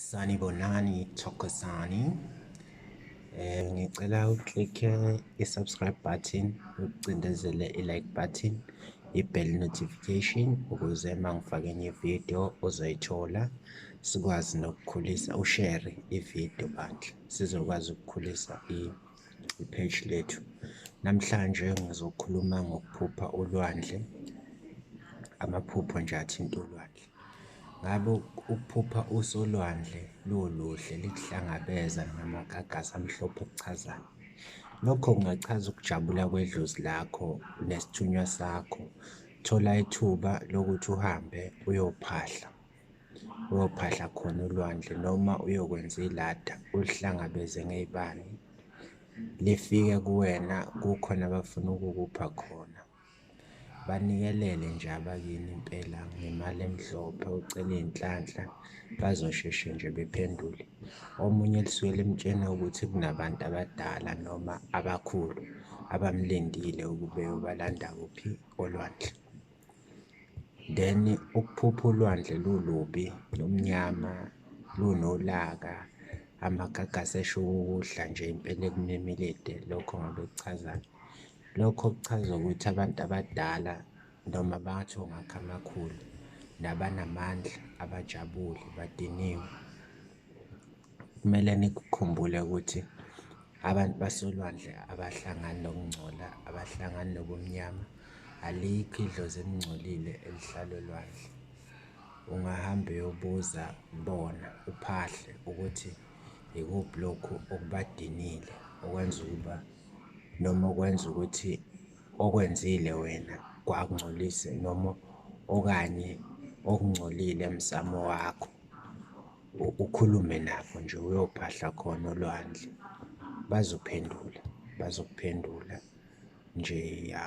Sanibonani Thokozani eh ngicela uclicke i-subscribe button ucindezele i-like button i-bell notification ukuze uma ngifake enye video uzoyithola sikwazi nokukhulisa ushare ivideo bandla sizokwazi ukukhulisa i-page lethu namhlanje ngizokhuluma ngokuphupha ulwandle amaphupho nje athinta ulwandle Ngabe ukuphupha usolwandle luluhle likuhlangabeza ngamagagasi amhlophe kuchazani? Lokho kungachaza ukujabula kwedlozi lakho nesithunywa sakho. Thola ithuba lokuthi uhambe uyophahla, uyophahla khona ulwandle noma uyokwenza ilada ulihlangabeze ngey'bani, lifike kuwena kukhona abafuna ukukupha khona. Banikelele nje abakini impela ngemali emhlophe ucele iy'nhlanhla bazosheshe nje bephendule. Omunye lisuke limtshena ukuthi kunabantu abadala noma abakhulu abamlindile ukube eyobalanda kuphi olwandle. Then ukuphupha ulwandle lulubi, lumnyama, lunolaka, amagagasi esho ukudla nje impela ekumemile lokho ngabe kuchazani. Lokho kuchaza ukuthi abantu abadala noma bathi ongakha amakhulu nabanamandla abajabule badiniwe. Kumele nikukhumbule ukuthi abantu basolwandle abahlangani nokungcola, abahlangani nobumnyama. Alikho idlozi elingcolile elihlala olwandle. Ungahamba uyobuza kubona uphahle ukuthi yikuphi lokhu okubadinile okwenza ukuba noma okwenza ukuthi okwenzile wena kwakungcolise noma okanye okungcolile emsamo wakho ukhulume nabo nje uyophahla khona olwandle bazophendula bazokuphendula nje ya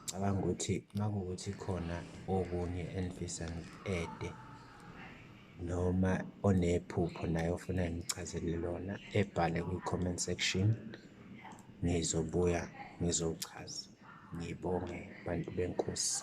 cabanga ukuthi makuwukuthi khona okunye engifisa ede noma onephupho naye ofuna ngichazele lona ebhale kwi-comment section ngizobuya ngizochaza ngibonge bantu benkosi